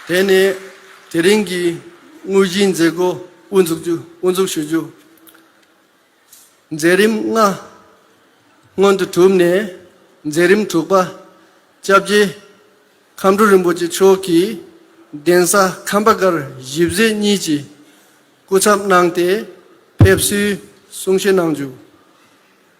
དེ་ནས་དེ་རིང་གི་དངོས་གཞིའི་མཛད་སྒོ་དབུ་འཛུགས་ཞུ་རྒྱུ། མཛད་རིམ་ལྔ་སྔོན་དུ་གྲུབ་ནས་མཛད་རིམ་དྲུག་པ་བཅྭ་བརྒྱད་ཁམས་སྒྲོལ་རིན་པོ་ཆེ་མཆོག་གིས་གདན་ས་ཁམས་པ་གར་བཞི་བཟེ་གཉིས་ཀྱི་སྐུ་ཚབ་གནང་སྟེ་ཕེབས་བསུའི་གསུང་བཤད་གནང་རྒྱུ།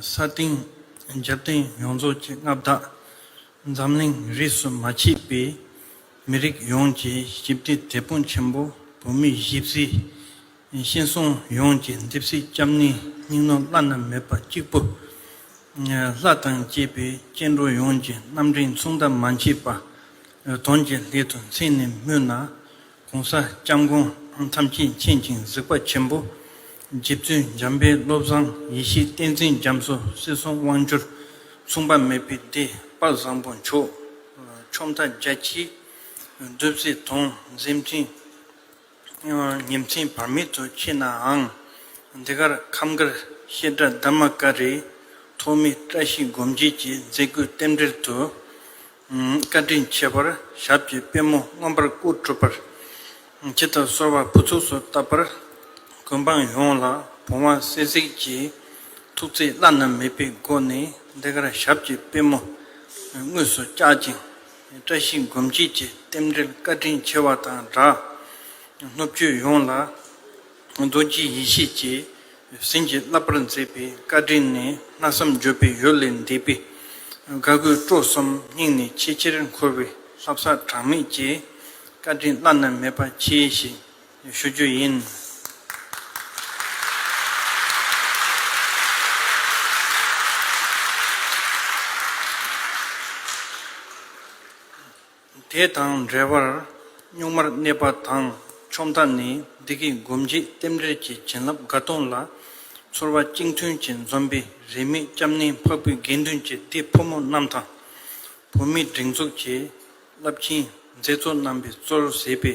ས་སྟེང་འཇབ་རྟེན་ཡོངས་རྫོགས་ཀྱི་མངའ་བདག་འཛམ་གླིང་རིས་སུ་མ་མཆིས་པའི་མི་རིགས་ཡོངས་ཀྱི་ཞིབ་བདེ་དེད་དཔོན་ཆེན་པོ་བོད་མིའི་གཞིས་བཟི། གཤེན་གསུམ་ཡོངས་ཀྱི་འདེབས་གསིག་སྐྱབས་གནས་སྙིང་ནོར་བླ་ན་མེད་པ་གཅིག་པུ། ལྷ་དང་བཅས་པའི་སྐྱེ་འགྲོ་ཡོངས་ཀྱི་རྣམ་འདྲེན་མཚུངས་ཟླ་མ་མཆིས་པ། དོན་གྱི་སླད་དུ་མཚན་ནས་སྨོས་ན། གོང་ས་སྐྱབས་མགོན་ཐམས་ཅད་མཁྱེན་ཅིང་གཟིགས་པ་ཆེན་པོ། རྗེ་བཙུན་འཇམ་པའི་བློ་བཟང་ཡེ་ཤེས་བསྟན་འཛིན་རྒྱ་མཚོ་སྲིད་གསུམ་དབང་བསྒྱུར། མཚུངས་པ་མེད་པའི་སྡེ་པ་བཟང་པོ་མཆོག། ཆོམ་རྟ་རྒྱལ་གྱིས་བསྡུས་སའི་དོང་གཟེབ་འཛིན། ཉིན་མཚན་བར་མེད་དུ་མཆིས་ནའང། འདི་གར་ཁམས་དཀར་བཤད་གྲྭ་དར་མ་ཀ་རིའི་ཐོག་མའི་བཀྲ་ཤིས་སྒོམ་བྱེད་ཀྱི་མཛད་སྒོའི་རྟེན་འབྲེལ་དུ། བཀའ་དྲིན་ཆེ་བར་ཞབས་ཀྱི་པད་མོ་མངོན་པར་སྐུ་གྲུབ་པར། ཁྱི་དང་སོར་བ་ཕུ་ཚུགས་སུ་བཏབ་པར། ཀུན་འབངས་ཡོངས་ལ་བུང་བ་སྲེག་ཟིག་ཀྱི་ཐུགས་བརྩེ་བླ་ན་མེད་པའི་སྒོ་ནས་འདི་གར་ཞབས་ཀྱི་པད་མོ་དངོས་སུ་བཀྱག་ཅིང། བཀྲ་ཤིས་མགོན་སྐྱིད་ཀྱི་རྟེན་འབྲེལ་བཀའ་དྲིན་ཆེ་བ་དང་སྦྲགས། སློབ་བརྒྱུད་ཡོངས་ལ་རྡོ་རྗེའི་ཡེ་ཤེས་ཀྱིས་ཟིན་གྱིས་བརླབས་པར་མཛད་པའི་བཀའ་དྲིན་ནི་གནའ་བསམ་འགྱོད་པའི་ཡུལ་ལས་འདས་པས། དགའ་གུས་སྤྲོ་གསུམ་སྙིང་ནས་ཆེས་ཆེར་འཁོར་བའི་ལྷ་བསགས་གྲངས་མེད་ཀྱིས་བཀའ་དྲིན་བླ་ན་མེད་པ་མཆིས་ཤིང། ཞུ་རྒྱུ་ཡིན། དེ་དང་འབྲེལ་བར་གཉུག་མར་གནས་པ་དང་ཆོམ་རྟ་ནི་བདེ་སྐྱིད་སྒོམ་བརྗིད་རྟེན་འབྲེལ་གྱི་བྱིན་རླབས་དགའ་གཏོང་ལ། ཚོར་བ་གཅིག་མཐུན་གྱི་འཛོམས་པའི་རེ་མིག་སྐྱབས་གནས་འཕགས་བོད་དགེ་འདུན་གྱི་སྡེ་ཕོ་མོ་རྣམས་དང། བོད་མིའི་སྒྲིག་འཛུགས་ཀྱི་རླབས་ཆེན་མཛད་གཙོ་རྣམ་པའི་གཙོར་བཟེད་པའི་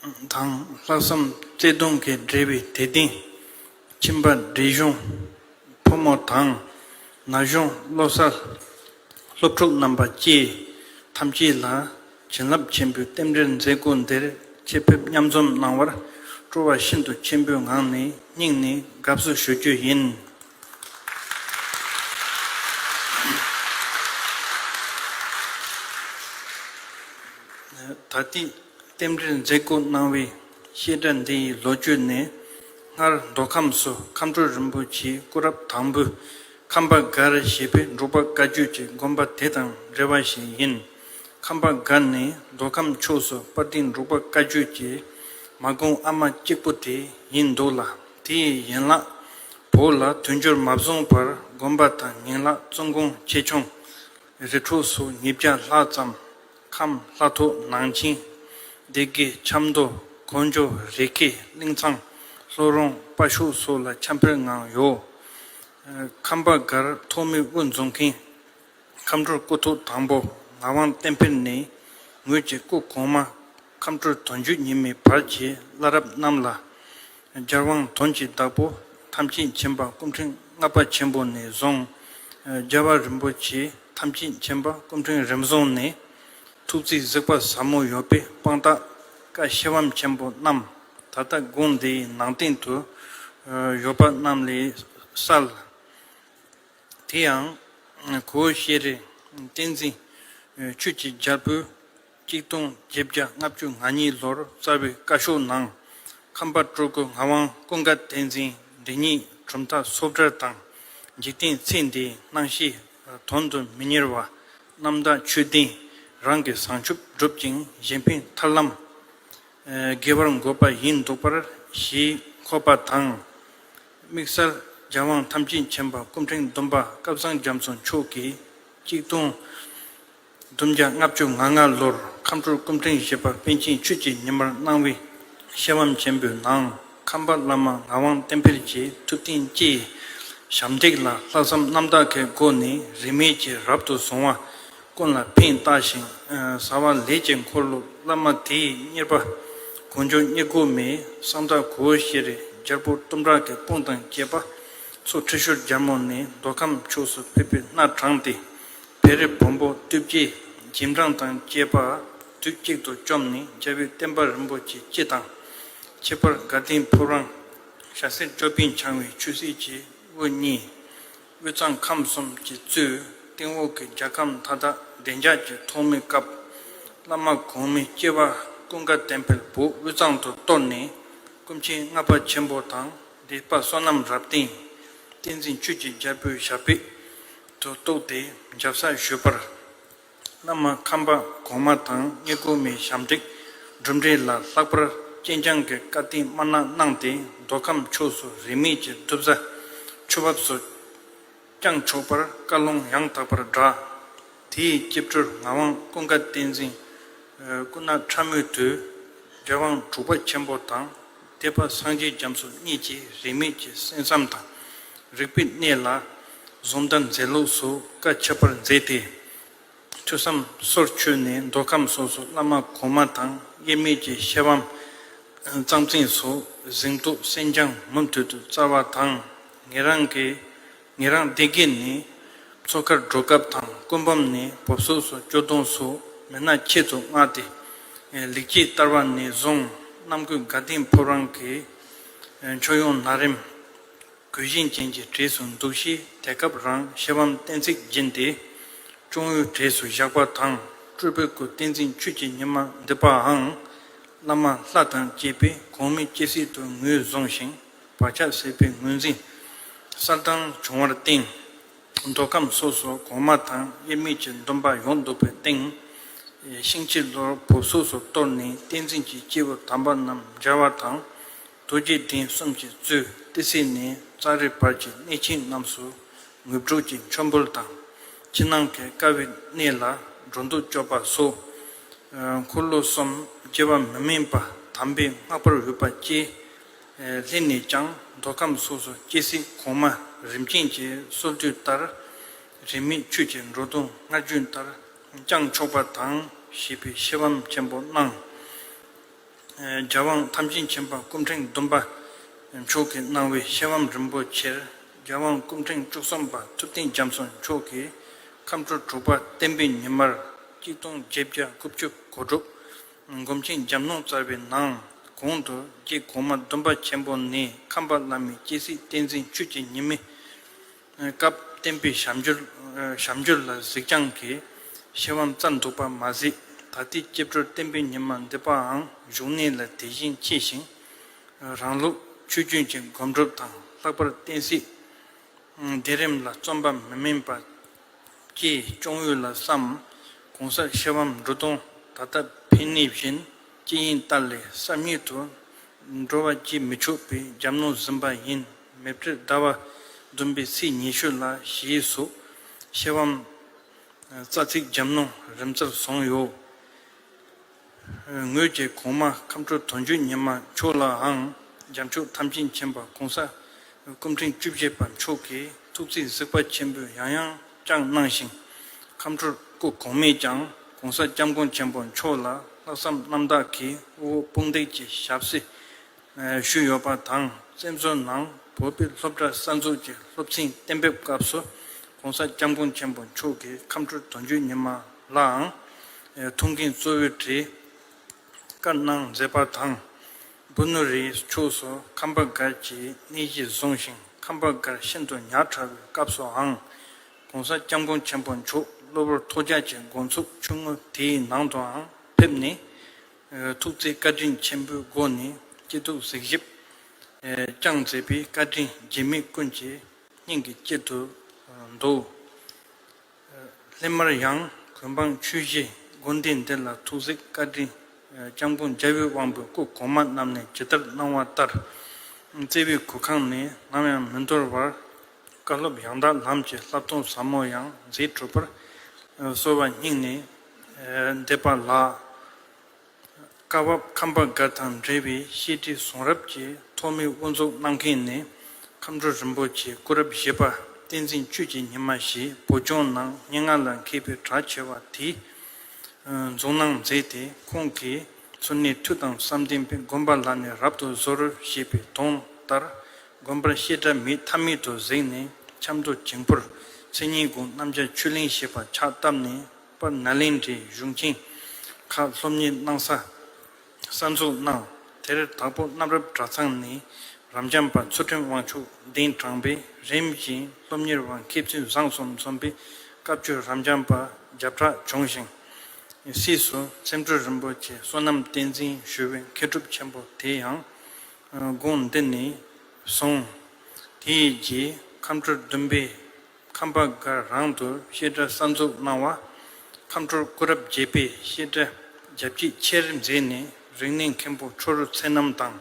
དང་ལྷག་བསམ་བརྩེ་གདུང་གིས་སྦྲེལ་བའི་དད་ལྡན་ཁྱིམ་པ་འབྲས་གཞུང་ཕོ་མོ་དང་ན་གཞོན་བློ་གསར་སློབ་ཕྲུག་རྣམ་པ་བཅས་ཐམས་ཅད་ལ་བྱིན་རླབས་ཆེན་པོའི་རྟེན་འབྲེལ་མཛད་སྒོ་འདིར་ཆེད་ཕེབས་མཉམ་འཛོམས་གནང་བར་སྤྲོ་བ་ཤིན་ཏུ་ཆེན་པོའི་ངང་ནས་སྙིང་ནས་དགའ་བསུ་ཞུ་རྒྱུ་ཡིན། ད་ལྟའི་རྟེན་འབྲེལ་མཛད་སྒོ་གནང་བའི་བཤད་གྲྭ་འདི་ཡི་ལོ་རྒྱུས་ནི། སྔར་མདོ་ཁམས་སུ་མཁའ་འགྲོ་རིན་པོ་ཆེའི་སྐུ་རབས་དང་པོའི་ཁམས་པ་སྒར་ཞེས་པའི་འབྲུག་པ་བཀའ་བརྒྱུད་ཀྱི་དགོན་པ་དེ་དང་འབྲེལ་བ་ཞིག་ཡིན། ཁམས་པ་འགའ་ནི་མདོ་ཁམས་ཕྱོགས་སུ་དཔའ་གཏིང་འབྲུག་པ་བཀའ་བརྒྱུད་ཀྱི་མ་དགོངས་ཨ་མ་གཅིག་པོ་དེ་ཡིན་འདུག་ལ་དེ་ཡི་ཡན་ལག་བོ་ལ་དུས་འགྱུར་མ་བཟུང་བར་དགོན་པ་དང་ཉིང་ལག་བཙུན་དགོན་ཆེ་ཆུང་རེ་དྲུག་སུ་ཉིས་བརྒྱ་ལྷག་ཙམ་ཁམས་ལྷ་ཐོག་ནང་ཆིང་སྡེ་དགེ་ཆབ་མདོ་གོ་འཇོ་རི་ཁེ་གླིང་ཚང་ལྷོ་རོང་དཔའ་ཤུག་སོགས་ལ་ཆབ་འཕེལ་ངང་ཡོད། ཁམས་པ་འགར་ཐོག་མི་དབུ་འཛུགས་མཁན་ཁམས་སྤྲུལ་སྐུ་ཐོག་དང་པོ་ངག་དབང་བསྟན་འཕེལ་ནས་ངོས་ཀྱི་སྐུ་གོང་མ་ཁམས་སྤྲུལ་དོན་བརྒྱུད་ཉི་མའི་བར་གྱི་བླ་རབས་རྣམས་ལ། སྦྱར་དབང་དོན་གྱི་བདག་པོ་ཐམས་ཅད་མཁྱེན་པ་སྐུ་ཕྲེང་ལྔ་པ་ཆེན་པོ་ནས་བཟུང། རྒྱལ་བ་རིན་པོ་ཆེ་ཐམས་ཅད་མཁྱེན་པ་སྐུ་ཕྲེང་རིམ་བཟུང་ནས། ཐུགས་རྩིས་གཟིགས་པ་ཟབ་མོ་ཡོད་པའི་དཔང་རྟགས་བཀའ་བཤད་བམ་ཆེན་པོ་རྣམས་ད་ལྟ་དགོན་འདིའི་ནང་སྟེང་དུ་ཡོད་པ་རྣམས་ལས་གསལ། དེ་ཡང་གོ་ཤེར་རིགས་བསྟན་འཛིན་ཆོས་ཀྱི་རྒྱལ་པོས་གཅིག་སྟོང་བརྒྱད་བརྒྱ་ལྔ་བཅུ་ང་གཉིས་ལོར་བསྩལ་བའི་བཀའ་ཤོག་ནང་ཁམས་པ་སྤྲུལ་སྐུ་ངག་དབང་ཀུན་དགའ་བསྟན་འཛིན་འདི་ཉིད་གྲུབ་མཐའ་སོ་བཀྲར་དང་འཇིག་རྟེན་ཚེ་འདིའི་སྣང་བཞི་དོན་དུ་མི་གཉེར་བ་རྣམ་དག་ཆོས་ལྡན་རང་གི་བཟང་ཕྱོགས་བསྒྲུབ་ཅིང་གཞན་ཕན་ཐར་ལམ་དགེ་བར་འགོད་པ་ཡིན་འདུག་པར་གཞིས་འཁོད་པ་དང། དམིགས་བསལ་རྒྱལ་དབང་ཐམས་ཅད་མཁྱེན་པ་སྐུ་ཕྲེང་བདུན་པ་བསྐལ་བཟང་རྒྱ་མཚོ་མཆོག་གིས་གཅིག་སྟོང། བདུན་བརྒྱ་ལྔ་བཅུ་ང་ལྔ་ལོར་ཁམས་སྤྲུལ་སྐུ་ཕྲེང་བཞི་པ་པཎ་ཆེན་ཆོས་ཀྱི་ཉི་མར་སྣང་བའི་ཤེར་དབང་ཆེན་པོའི་ནང་ཁམས་པ་བླ་མ་ངག་དབང་བསྟན་འཕེལ་གྱི་ཐུགས་རྟེན་བཅས་ཞབས་འདེགས་ལ་ལྷག་བསམ་རྣམ་དག་གི་སྒོ་ནས་རིས་མེད་ཀྱིས་རབ་ཏུ་བཟུང་བ། ཀུན་ལ་ཕན་བཏགས་ཤིང་བཟའ་བ་ལས་ཀྱི་འཁོར་ལོ་བླ་མ་དེའི་གཉེར་པ་གོ་འཇོ་རྙེད་སྒོ་མའི་གསང་བདག་གོའུ་ཤེ་རི་རྒྱལ་པོ་གཏུམ་དྲག་གི་དཔུང་དང་བཅས་པ་སོགས་ཁྲི་ཤོར་རྒྱལ་མོ་ནས་མདོ་ཁམས་ཕྱོགས་སུ་ཕེབས་པའི་སྣ་དྲངས་ཏེ་བེ་རི་བོན་པོ་བཏུལ་བརྒྱའི་རྗེས་འབྲང་དང་བཅས་པ་དུས་གཅིག་ཏུ་བཅོམ་ནས་རྒྱལ་པོའི་བསྟན་པ་རིན་པོ་ཆེ་སྤྱི་དང་ཁྱད་པར་དགའ་ལྡན་ཕུབ་རང་ཞྭ་སེར་ཅོ་པན་འཆང་བའི་ཆོས་སྲིད་ཀྱི་དབུ་བརྙེས། དབུས་གཙང་ཁམས་གསུམ་གྱི་གཙོས་སྟེང་འོག་གི་རྒྱལ་ཁམས་མཐའ་དག་བདེ་འཇགས་ཀྱི་ཐོག་མེད་སྐབས། བླ་མ་གོང་མའི་སྐྱེ་བ་ཀུན་དགའ་ལྡན་བལ་བོ་དབུས་གཙང་དུ་གཏོར་ནས་སྐུ་མཁྱེན་ལྔ་པ་ཆེན་པོ་དང་སྡེ་པ་བསོད་ནམས་རབ་བརྟན་བསྟན་འཛིན་ཆོས་ཀྱི་རྒྱལ་པོའི་ཞབས་པད་དུ་གཏུགས་ཏེ་འཇབ་ས་ཞུས་པར། བླ་མ་ཁམས་པ་གོང་མ་དང་རྙེད་བཀུར་མའི་ཞབས་འདེགས་གྲུབ་འབྲས་ལ་ལྷག་པར་སྤྱན་བསྐྱངས་ཀྱི་བཀའ་དྲིན་དམར་ནག་གནང་སྟེ་མདོ་ཁམས་ཕྱོགས་སུ་རིས་མེད་ཀྱི་གདུལ་བྱ་ཆུ་བབས་སུ་བསྐྱངས་ཆོག་པར་བཀའ་ལུང་ཡང་དག་པར་བསྒྲགས། དེའི་སྐྱིབས་གྲོལ་ངག་དབང་ཀུན་དགའ་བསྟན་འཛིན། སྐུ་ན་ཕྲ་མོའི་དུས། རྒྱལ་དབང་དྲུག་པ་ཆེན་པོ་དང། ཐེག་པ་སངས་རྒྱས་རྒྱ་མཚོ་གཉིས་ཀྱི་རིས་མེད་ཀྱི་གསན་བསམ་དང། རིག་པའི་གནས་ལ་གཟུང་དང་མཛད་ལུགས་སུ་བཀའ་ཁྱབ་པར་མཛད་དེ། ཐོས་བསམ་སོར་ཆུད་ནས་མདོ་ཁམས་སོགས་སུ་བླ་མ་གོང་མ་དང་དབྱེར་མེད་ཀྱི་ཤེར་བམ། གཙང་བཙན་སོགས་གཟེངས་བསྟོད་གསན་རྐྱང་མུ་མཐུད་དུ་སྩལ་བ་དང། ངེད་རང་གི་ངེད་རང་སྡེ་དགེ་ནི་མཚོ་ཁར་འགྲོ་སྐབས་དང་སྐུ་འབུམ་ནི་བོབ་སོགས་སུ་སྐྱོ་གདུང་སུ་མེད་ན་ཁྱེད་ཚོ་མངགས་ཏེ། ལེགས་སྐྱེས་བསྟར་བ་ནི་བཟུང་རྣམ་ཀུན་དགའ་ལྡིང་ཕོབ་རང་གི་མཆོག་ཡོང་ན་རེམ། གུས་བཞིན་ཅན་གྱི་གྲས་སུ་འདུག་གཤིས་དེ་སྐབས་རང་ཤེ་བམ་གཏན་ཚིགས་སྦྱིན་ཏེ། གཅུང་བོའི་གྲས་སུ་བཞག་པ་དང་སྤྲུལ་པའི་སྐུ་བསྟན་འཛིན་ཆོས་ཀྱི་ཉི་མ་འདི་པའང། བླ་མ་ལྷ་དང་བཅས་པས་གོང་མི་སྐྱེ་སྲིད་དུ་ངོས་བཟུང་ཞིང། བག་ཆགས་སྲེད་པའི་ངོས་འཛིན། གསར་ལྡང་འབྱུང་བར་བརྟེན། མདོ་ཁམས་སོ་སོ་གོང་མ་དང་དབྱེར་མེད་ཀྱི་སྡོམ་པ་ཡོངས་རྫོགས་པའི་སྟེང། ཤིང་བྱི་ལོར་བུབས་སོ་སོར་གཏོར་ནས་བསྟན་འཛིན་གྱི་སྐྱེས་བུ་དམ་པ་རྣམས་སྦྱར་བ་དང། རྡོ་རྗེ་གདན་གསུམ་གྱི་གཙོས་ཏི་སེ་ནས་རྩ་རི་བར་གྱི་གནས་ཆེན་རྣམས་སུ་ངུར་སྒྲོག་གི་མཆོད་འབུལ་དང། ཕྱི་ནང་གི་དཀའ་བའི་གནས་ལ་འགྲོ་འདུག་སྤྱོད་པ་སོགས། འཁོར་ལོ་གསུམ་སྐྱེ་བ་མི་དམན་པ་དམ་པའི་སྔགས་པར་འོས་པ་བསྐྱེད། ལྷན་ནས་ཀྱང་མདོ་ཁམས་སོགས་སུ་སྐྱེ་སྲིད་གོང་མ་རིམ་ཅན་གྱི་སྲོལ་རྒྱུན་ལྟར། རིས་མེད་ཁྱོད་ཀྱི་འགྲོ་འདུག་སྔར་རྒྱུན་ལྟར་བསྐྱང་ཆོག་པ་དང་ཞེས་པའི་ཤེས་བམ་ཆེན་པོ་གནང། རྒྱལ་དབང་ཐམས་ཅད་མཁྱེན་པ་སྐུ་ཕྲེང་བདུན་པ་མཆོག་གིས་གནང་བའི་ཤེས་བམ་རིན་པོ་ཆེར་རྒྱལ་དབང་སྐུ་ཕྲེང་བཅུ་གསུམ་པ་ཐུབ་བསྟན་རྒྱ་མཚོ་མཆོག་གིས་ཁམས་འཕྲོ་དྲུག་པ་བསྟན་པའི་ཉི་མར་གཅིག་སྟོང་བརྒྱད་བརྒྱ་དགུ་བཅུ་གོ་དྲུག། སྒོམ་ཆེན་འཇམ་ནོར་རྩ་བའི་ནང་གོང་དུ་རྒྱས་གོང་མ་སྡོམ་པ་ཆེན་པོ་ནས་ཁམས་པ་བླ་མའི་སྐྱེ་སྲིད་བསྟན་འཛིན་ཆོས་ཀྱི་ཉི་མའི་སྐབས་བསྟན་པའི་ཞབས་འབྱོར་ལ་གཟིགས་རྒྱང་གི་ཤེར་བམ་རྩ་འཛུགས་པ་མ་ཟད་ད་ལྟའི་སྐྱེ་འགྲོར་བསྟན་པའི་ཉི་མ་འདི་པའང་བཞུགས་གནས་ལ་དེ་བཞིན་མཆིས་ཤིང། རང་ལུགས་ཆོས་རྒྱུན་གྱི་སྒོམ་སྒྲུབ་དང་ལྷག་པར་བསྟན་སྲིད་བདེ་རིམ་ལ་རྩོམ་པ་མི་དམན་པ། ཀྱིས་སྐྱོང་ཡུལ་ལ་བསམ། གོང་ས་གཤེན་བམ་འབྲུ་སྟོང་ད་ལྟ་འཕེན་ནུས་བཞིན་སྐྱེ་ཡིན་ལྟར་ལས་བསམ་ཉིད་དུ། འགྲོ་བ་སྐྱེ་མི་ཆོག་པའི་རྒྱབ་ནོར་ཟིན་པ་ཡིན་མེད་དྲི་ཟླ་བ། བདུན་པའི་ཚེས་ཉི་ཤུ་ལ་ཞེས་སོགས་གཤེན་བམ། རྩ་ཚིག་རྒྱབ་ནོར་རིམ་རྩར་བཟུང་ཡོད། ངོས་ཀྱིས་གོང་མ་ཁམས་ཁྲོ་དོན་བརྒྱུད་ཉི་མ་མཆོག་ལའང་རྒྱ་མཆོག་ཐམས་ཅད་མཁྱེན་པ་གོང་ས་སྐུ་ཕྲེང་བཅུ་བཞི་པ་མཆོག་གི་ཐུགས་རྩིས་གཟིགས་པ་ཆེན་པོས་ཡང་ཡང་བསྐྱངས་གནང་ཞིང། ཁམས་ཁྲོར་སྐུ་གོང་མས་ཀྱང་གོང་ས་སྐྱབས་མགོན་ཆེན་པོ་མཆོག་ལ་ལྷག་བསམ་རྣམ་དག་གིས་དབུ་བོ་དཔུང་འདེགས་ཀྱི་ཞབས་བསིལ་ཞུས་ཡོད་པ་དང་བཙན་བྱོལ་ནང་བོད་པའི་སློབ་གྲྭ་གསར་འཛུགས་ཀྱི་སློབ་ཚན་གཏན་འབེབས་སྐབས་སུ ྋགོང་ས ྋསྐྱབས་མགོན་ཆེན་པོ་མཆོག་གིས་ཁམས་ཁྲོད་དོན་གཅོད་ཉི་མ་ལའང་ཐུགས་འགན་གཙོ་བོའི་གྲས་བཀའ་གནང་མཛད་པ་དང། འབུ་ནུ་རིའི་ཕྱོགས་སུ་ཁམས་པ་སྒར་གྱི་གནས་གཞི་བཟུང་ཞིང་ཁམས་པ་སྒར་ཤིན་ཏུ་ཉག་ཕྲ་བའི་སྐབས་སུའང ྋགོང་ས ྋསྐྱབས་མགོན་ཆེན་པོ་མཆོག་གློ་བུར་ཐོག་རྒྱག་གྱི་མགོ་འཚུབ་ཆུང་ངུ་དེའི་ནང་དུའང་ཕེབས་ནས། ཐུགས་བརྩེའི་བཀའ་དྲིན་ཆེན་པོའི་སྒོ་ནས་སྐྱིད་སྡུག་གཟིགས་ཞིབ། བསྐྱངས་མཛད་པའི་བཀའ་དྲིན་རྗེ་མི་ཀུན་གྱི་སྙིང་གི་དཀྱིལ་དུ་འདུག། སླད་མར་ཡང་གུས་འབངས་ཆོས་བཞིའི་དགོན་སྡེ་འདི་ལ་ཐུགས་གཟིགས་བཀའ་དྲིན་སྐྱབས་མགོན་རྒྱལ་བའི་དབང་པོའི་སྐུ་གོང་མ་རྣམས་ནས་ཇི་ལྟར་གནང་བ་ལྟར། བརྩེ་བའི་གུར་ཁང་ནས་ནམ་ཡང་མི་འདོར་བར། བཀའ་སློབ་ཡང་དག་ལམ་གྱི་བསླབ་སྟོན་ཟབ་མོ་ཡང་མཛད་གྲུབ་པར། གསོལ་བ་སྙིང་ནས་འདས་པ་ལ། བཀའ་བབས་ཁམས་པ་འགའ་དང་འབྲེལ་བའི་བཤད་ཁྲིད་གསུང་རབ་ཀྱི་ཐོག་མའི་དབུ་འཛུགས་གནང་མཁན་ནི་ཁམས་སྒྲོལ་རིན་པོ་ཆེ་སྐུ་རབས་བཞི་པ་བསྟན་འཛིན་བཅུད་ཀྱི་ཉི་མ་ཞེས་བོད་ལྗོངས་ནང་སྙན་ངག་ལ་མཁས་པའི་གྲགས་ཆེ་བ་དེས་འཛུགས་གནང་མཛད་དེ་ཁོང་གིས་མཚོ་སྣའི་མཐུ་དང་བསམ་གཏན་པའི་དགོན་པ་ལ་ནས་རབ་ཏུ་གཟོ་རུ་ཞེས་པའི་དོན་ལྟར་དགོན་པར་བཤད་གྲྭ་མི་ཐ་མི་དོ་གཟིགས་ནས་ཆབ་མདོ་འགྱིང་པོར་མཚན་ཉིད་དགུང་གནམ་ལྕགས་ཆུ་གླིང་ཞེས་པ་ཕྱག་བཏབ་ནས། པ་ན་ལིང་ཁྲིའི་གཞུང་ཁྱིང་ཁ་སློབ་གཉེར་གནང་ས་གསར་འཛུགས་གནང། དེར་དྭགས་པོ་གནམ་རབ་གྲྭ་ཚང་ནས་རབ་འབྱམས་པ་ཚུལ་ཁྲིམས་དབང་ཕྱུག་གདན་དྲངས་པས་རིམ་བཞིན་སློབ་གཉེར་བ་མཁས་བཙུན་བཟང་གསུམ་འཛོམས་པའི་བཀའ་བརྒྱུད་རབ་འབྱམས་པ་བརྒྱ་ཕྲག་བྱུང་ཞིང། སྲིད་ཟུར་ཚེམ་སྤྲུལ་རིན་པོ་ཆེ་བསོད་ནམས་བསྟན་འཛིན་ཞུ་བའི་མཁས་གྲུབ་ཆེན་པོ་དེ་ཡང་དགོན་འདི་ནས་བཟུང་དེའི་རྗེས་ཁམས་སྤྲུལ་བདུན་པའི། ཁམས་པ་འགའ་རང་དུ་བཤད་གྲྭ་གསར་འཛུགས་གནང་བ། ཁམས་ཁྲོར་སྐུ་རབས་བརྒྱད་པའི་བཤད་གྲྭ་རྒྱ་བསྐྱེད་ཆེར་མཛད་ནས་རིག་གནས་མཁན་པོ་ཁྲོ་རུ་ཚེ་རྣམ་དང་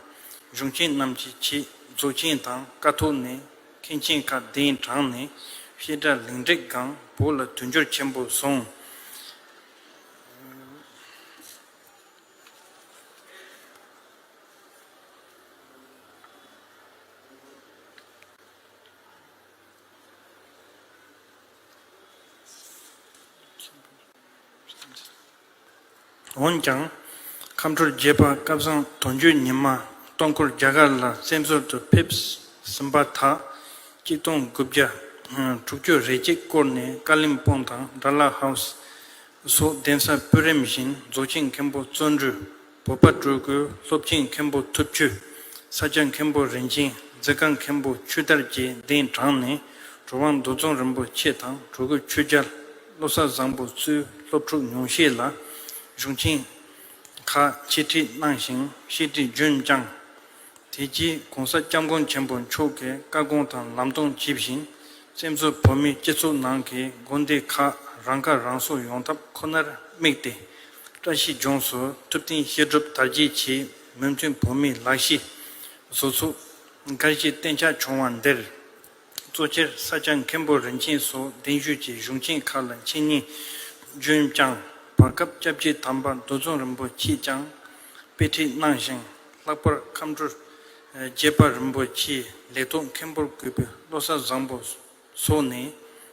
གཞུང་ཆེན་རྣམས་ཀྱི་ཆེད་རྫོགས་ཆེན་དང་དཀའ་ཐུབ་ནས་མཁན་ཆེན་ཁག་གདན་དྲངས་ནས་བཤད་གྲྭ་ལེགས་འགྲིག་སྒང་བོ་ལ་དུས་འགྱུར་ཆེན་པོ་བཟུང། འོན་ཀྱང། ཁམས་དྲུག་བརྒྱད་པ་སྐལ་བཟང་དོན་གཅོད་ཉི་མ་སྟོང་སྐོར་རྒྱ་གར་ལ་བཙན་ཟུར་དུ་ཕེབས་ཟིན་པ་དག་གཅིག་སྟོང་དགུ་བརྒྱ་དྲུག་བཅུ་རེ་གཅིག་སྐོར་ནས་ཀ་ལིམ་སྤོང་དང་སྦྲ་ལ་ཧའུ་སི་སོགས་གདན་ས་སྤུས་རིམ་བཞིན་རྫོགས་ཆེན་མཁན་པོ་བརྩོན་འགྲུས། བོད་པ་སྤྲུལ་སྐུ་སློབ་ཆེན་མཁན་པོ་ཐུབ་ཆོས། ས་སྐྱ་མཁན་པོ་རིན་ཆེན་རྫི་དཀར་མཁན་པོ་ཆོས་དར་རྒྱས་གདན་དྲངས་ནས་གྲུབ་དབང་འདུ་འཛོམས་རིན་པོ་ཆེ་དང་གྲུ་གུ་ཆོས་རྒྱལ། བློ་གསར་བཟང་པོ་བཙུན་སློབ་ཕྲུག་ཉུང་ཤས་ལ་གཞུང་ཆེན་ཁག་འཆད་ཁྲིད་གནང་ཞིང་བཤད་ཁྲིད་རྒྱུན་བསྐྱངས། དེ་རྗེས ྋགོང་ས ྋསྐྱབས་མགོན་ཆེན་པོ་མཆོག་གི་བཀའ་དགོངས་དང་ལམ་སྟོན་ཇི་བཞིན་བཙན་བྱོལ་བོད་མིའི་སྤྱི་ཚོགས་ནང་གི་དགོན་སྡེ་ཁག་རང་ཁ་རང་གསོ་ཡོང་ཐབས་ཁོ་ནར་དམིགས་ཏེ། བཀྲ་ཤིས་ལྗོངས་སུ་ཐུབ་བསྟན་བཤད་སྒྲུབ་དར་རྒྱས་ཆེད་མོས་མཐུན་བོད་མིའི་ལག་ཤེས། བཟོ་ཚོགས། འགའ་ཞིག་གཏན་ཆགས་བྱུང་བ་འདིར། གཙོ་ཆེར་ས་སྐྱ་མཁན་པོ་རིན་ཆེན་སོགས་གདན་ཞུས་ཀྱི་གཞུང་ཆེན་ཁག་ལ་འཆད་ཉན་རྒྱུན་བསྐྱངས། བར་སྐབས་སྐྱབས་རྗེ་དམ་པ་རྡོ་རྫོང་རིན་པོ་ཆེས་ཀྱང་དཔེ་ཁྲིད་གནང་ཞིང་ལྷག་པར་ཁམས་སྤྲུལ་རྒྱས་པ་རིན་པོ་ཆེའི་ལེགས་རྟོགས་མཁན་པོར་གུས་པའི་བློ་གསར་བཟང་པོ་སོགས་ནས་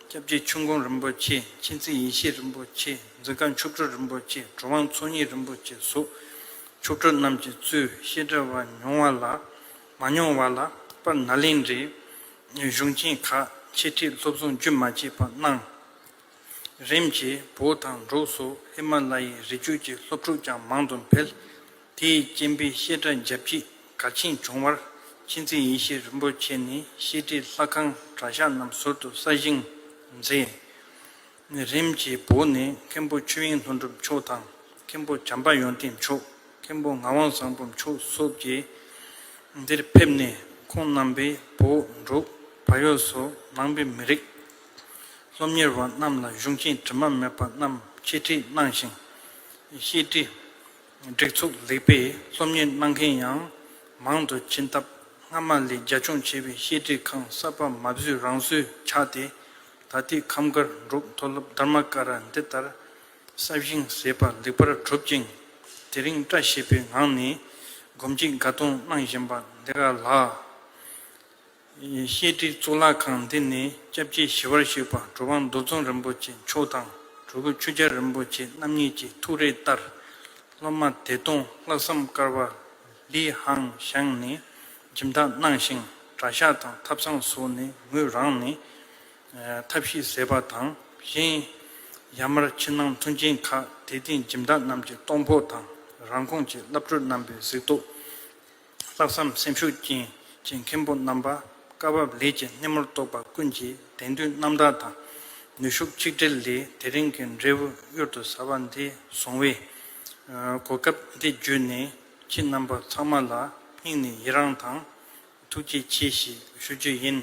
སྐྱབས་རྗེ་ཆོས་མགོན་རིན་པོ་ཆེ་མཁྱེན་བརྩེ་ཡེ་ཤེས་རིན་པོ་ཆེ་འཛི་སྒར་མཆོག་སྤྲུལ་རིན་པོ་ཆེ་གྲུབ་དབང་ཚོགས་གཉིས་རིན་པོ་ཆེ་སོགས་མཆོག་སྤྲུལ་རྣམས་ཀྱི་གཙོས་བཤད་གྲྭ་བ་མྱོང་བ་ལ། མ་མྱོང་བ་ལ་པ་ན་ལིང་རེ་གཞུང་ཆེན་ཁག་ཕྱི་ཁྲིད་སློབ་སྦྱོང་རྒྱུན་མ་ཆད་པ་གནང། རིམ་གྱིས་བོད་དང་འབྲུག་སོགས་ཧི་མ་ལ་ཡའི་རི་རྒྱུད་ཀྱི་སློབ་ཕྲུག་ཀྱང་མང་དུ་འཕེལ། དེའི་རྐྱེན་པས་བཤད་གྲྭ་རྒྱ་བསྐྱེད་གལ་ཆེན་བྱུང་བར་མཁྱེན་བརྩེ་ཡེ་ཤེས་རིན་པོ་ཆེ་ནས་བཤད་གྲྭའི་ལྷ་ཁང་གྲྭ་ཤག་རྣམས་ཟུར་དུ་གསར་བཞེངས་མཛད། ནས་རིམ་གྱིས་བོར་ནས་མཁན་པོ་ཆོས་དབྱིངས་ལྷུན་གྲུབ་མཆོག་དང་མཁན་པོ་བྱམས་པ་ཡོན་ཏན་མཆོག་མཁན་པོ་ངག་དབང་བཟང་པོ་མཆོག་སོགས་ཀྱིས་འདིར་ཕེབས་ནས་ཁོང་རྣམ་པས་བོ་འབྲུག་བ་ཡོས་སུ་ནང་པའི་མི་རིགས་སློབ་གཉེར་བ་རྣམས་ལ་གཞུང་ཆེན་དྲི་མ་མེད་པ་རྣམས་འཆད་ཁྲིད་གནང་ཞིང། བཤད་ཁྲིད་སྒྲིག་ཚུགས་ལེགས་པས་སློབ་གཉེར་གནང་མཁན་ཡང་མང་དུ་ཕྱིན་སྟབས་སྔ་མ་ལས་རྒྱ་ཆུང་ཆེ་བའི་བཤད་ཁྲིད་ཁང་གསར་པ་མ་བཟོས་རང་བཟོས་ཆགས་ཏེ་ད་ལྟའི་ཁམས་དཀར་འབྲུག་མཐོ་སློབ་དར་མ་ཀ་ར་འདི་ལྟར་ས་བཞིན་ཟད་པ་ལེགས་པར་གྲུབ་ཅིང་དེ་རིང་བཀྲ་ཤིས་པའི་ངང་ནས་སྒོམ་གྱི་དགའ་སྟོན་གནང་བཞིན་པ་འདི་ག་ལགས། བཤད་ཁྲིའི་གཙུག་ལག་ཁང་འདི་ནས་སྐྱབས་རྗེ་ཞི་བར་གཤེགས་པ་གྲུབ་དབང་རྡོ་རྫོང་རིན་པོ་ཆེ་མཆོག་དང་གྲུ་གུ་ཆོས་རྒྱལ་རིན་པོ་ཆེ་རྣམ་གཉིས་ཀྱི་ཐུགས་རེ་ལྟར་སློབ་མ་བདེ་སྟོང་ལྷག་བསམ་དཀར་བ་ལིས་ཧང་ཞང་ནས་ཁྱིམ་བདག་སྣང་ཞིང་གྲྭ་ཤག་དང་ཐབ་ཚང་སོགས་ནས་ངོས་རང་ནི། ཐབས་ཤེས་ཟེར་བ་དང་གཞན། ཡར་མར་ཕྱི་ནང་མཐུན་རྐྱེན་ཁག་དེ་སྟེང་ཁྱིམ་བདག་རྣམས་ཀྱི་གཏོང་ཕོག་དང་རང་ཁོངས་ཀྱི་བླ་སྤྲུལ་རྣམ་པའི་གཟིགས་རྟོགས། ལྷག་བསམ་སེམས་ཤུགས་ཅན་གྱི་མཁན་པོ་རྣམ་པ་བཀའ་བབས་ལས་ཀྱི་སྣེ་མོར་གཏོགས་པ་ཀུན་གྱི་དད་འདུན་རྣམ་དག་དང་ནུས་ཤུགས་ཆིག་སྒྲིལ་ལས་དེ་རིང་གི་འབྲས་བུ་གཡུར་དུ་ཟ་བ་འདི་བཟུང་བས། གོ་སྐབས་འདི་བརྒྱུད་ནས་ཁྱེད་རྣམ་པ་ཚང་མ་ལ་སྙིང་ནས་ཡི་རངས་དང་ཐུགས་རྗེ་ཆེ་ཞེས་ཞུ་རྒྱུ་ཡིན།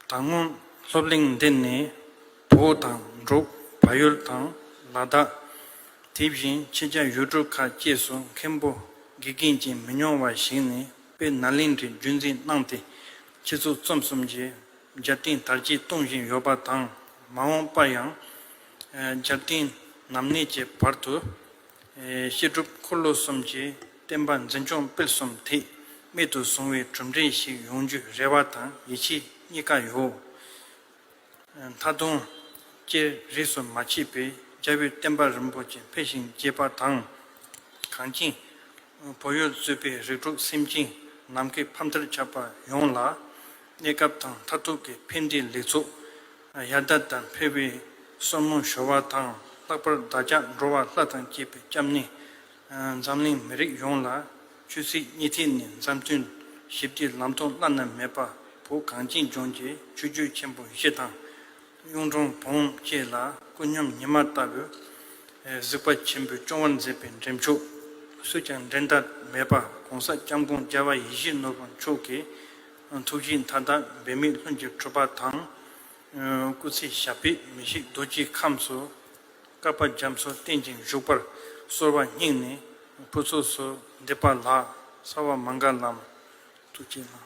ད་སྔོན་སློབ་གླིང་འདི་ནས་བོད་དང་འབྲུག་བལ་ཡུལ་དང་ལ་དྭགས། དེ་བཞིན་ཕྱི་རྒྱ་ཡུལ་གྲུ་ཁག་བཅས་སུ་མཁན་པོ་དགེ་རྒན་ཅན་མི་ཉུང་བ་ཞིག་ནས་པའི་ནཱ་ལེནྡྲའི་བརྒྱུད་འཛིན་གནང་སྟེ་ཁྱེད་ཚོ་རྩོམ་གསུམ་གྱི་རྒྱབ་རྟེན་དར་རྒྱས་གཏོང་བཞིན་ཡོད་པ་དང་མ་འོངས་པར་ཡང་རྒྱབ་རྟེན་ནམ་གནས་ཀྱི་བར་དུ་བཤད་སྒྲུབ་འཁོར་ལོ་གསུམ་གྱི་བསྟན་པ་འཛིན་སྐྱོང་སྤེལ་གསུམ་ཐེག་དམན་དུ་བཟུང་བའི་གྲུབ་འབྲས་ཤིག་ཡོང་རྒྱུའི་རེ་བ་དང་ཡིད་ཆེས་གཉིས་ཀ་ཡོད། མཐའ་དུང། ཅེས་རིས་སུ་མ་མཆིས་པའི་རྒྱལ་པོའི་བསྟན་པ་རིན་པོ་ཆེ་འཕེལ་ཞིང་རྒྱས་པ་དང། གངས་ཅན་བོད་ཡུལ་གཙོས་པའི་རིགས་དྲུག་སེམས་ཅན་ནམ་མཁའི་ཕ་མཐར་ཁྱབ་པ་ཡོངས་ལ། གནས་སྐབས་དང་མཐར་ཐུག་གི་ཕན་བདེའི་ལེགས་ཚོགས་ཡར་ཟླ་ལྟར་འཕེལ་བའི་སོར་མོ་གཞོལ་བ་དང་ལྷག་པར་བདག་ཅག་འགྲོ་བ་ལྷ་དང་བཅས་པའི་སྐྱབས་གནས་འཛམ་གླིང་མི་རིགས་ཡོངས་ལ་ཆོས་སྲིད་གཉིས་ཐད་ནས་མཛའ་མཐུན། ཞི་བདེའི་ལམ་ཐོག་བླ་ན་མེད་པ་བོ་གངས་ཅན་ལྗོངས་ཀྱི་ཆོས་བརྒྱུད་ཆེན་པོ་བཞི་དང། གཡུང་དྲུང་བོན་བཅས་ལ་ཀུན་སྙོམས་ཉི་མ་ལྟ་བུའི་གཟིགས་པ་ཆེན་པོས་སྐྱོང་བར་མཛད་པའི་འགྲེམས་ཆོག་སུས་ཀྱང་འགྲན་ཟླ་མེད་པ ྋགོང་ས ྋསྐྱབས་མགོན་རྒྱལ་བ་ཡིད་བཞིན་ནོར་བུ་མཆོག་གི་ཐུགས་བཞེད་མཐའ་དག་འབད་མེད་ལྷུན་གྱིས་གྲུབ་པ་དང། སྐུ་ཚེ་ཞབས་པད་མི་ཤིགས་རྡོ་རྗེའི་ཁམས་སུ། བསྐལ་པ་འཇམ་སོགས་རྟེན་ཅིང་བཞུགས་པར་གསོལ་བ་སྙིང་ནས་ཕུར་ཚུགས་སུ་འདེབས་པ་ལགས་གསལ་བ་མ་འགག་ལམ་ཐུགས་ཀྱི་ལྷ།